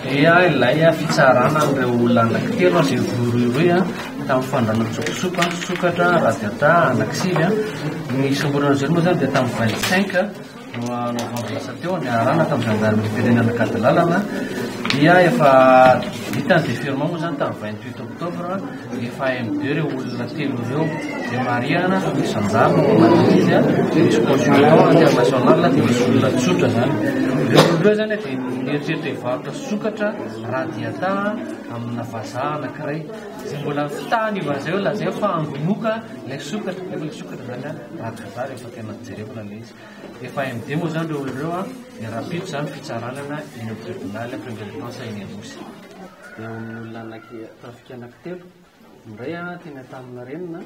dia ilay fitsarana an'ireo olona anankitelo izay voarohirohy tamin'ny fandranan-tsokosoko an, sokatra, radiata, anakisivy an, ny isamborana azy ireo moa izany dia tamin'ny vingt cinq novambra lasa teo niarahana tamin'ny zandarimeriam-pirenena Ankadilalana dia efa vita ny déferment moa izany tamin'ny vingt huit oktobra Rehefa MD ireo olona telo ireo dia marihana fa misy anjara ao anatin'izy izy an, misy consultant international dia misy olona tsotra izany. Ireo olona ireo izany dia mieritreritra hivarotra sokatra raha diata amina vazaha anankiray. Izay mbola fitahana io vazaha io lazaina fa angonoka ilay sokatra, nefa ilay sokatra izany an, raha vazaha rehefa tena jerena ilay izy. Efa MD moa izany ireo olona ireo an, dia rahampitso izany fitsarana eny amin'ny tribunal première instance eny Anosy. Eo amin'ny olona anaky, tafika anaky telo, ny iray teny Antanina renina,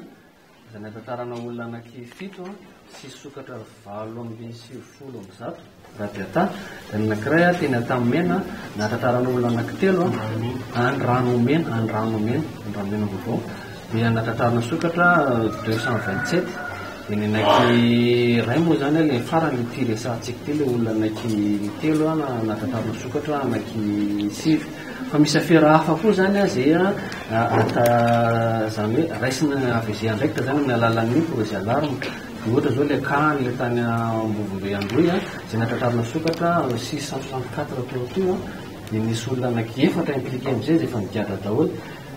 izay nahatantarana olona anaky fito sy sokatra valo amby sivifolo amby zato, Rabiata, dia ny anakiray teny Antamimena, nahatantarana olona anaky telo, any Ranomena, any Ranomena, Ranomena Vaovao, Dia nakatarina sokatra deux cent vingt sept dia ny anaiky iray moa izany ilay farany ity resahantsika ity ilay olona anaiky telo nakatarina sokatra anaiky sivy fa misy afera hafa koa izany izay ata izany hoe raisina avy izay andraikitra izany amin'ny alalan'ny projet alarme dia ohatra izao ilay cas an'ilay tany Ambovombe Androy izay nakatarina sokatra six cent soixante quatre teo koa dia nisy olona anaiky efatra impliqué amin'izay izay efa nigadra daholo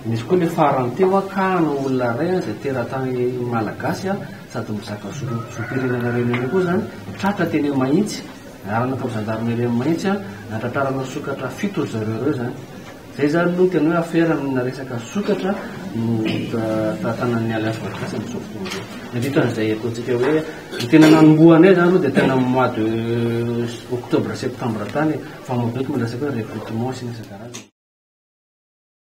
Nisy koa ny farany teo an ka no olona iray an izay teratany malagasy an sady mizaka zom-pirenena reny ihany koa izany, tratra teny amin'ny Mahitsy, niarahana tamin'ny zandarmeria amin'ny Mahitsy an, natratrarana sokatra fito ry zareo ireo izany. Izay izany aloha ny tena hoe afera amina resaka sokatra no tantanan'ny Alliance Valogasy amin'izao fotoana izao. Dia dikan'izay ataontsika hoe ny tena nanomboha anay izany aloha dia tena amin'ny mois de octobre-septembre tany e, fa mazoto ny resaka hoe recrutement sy ny isan-karazany.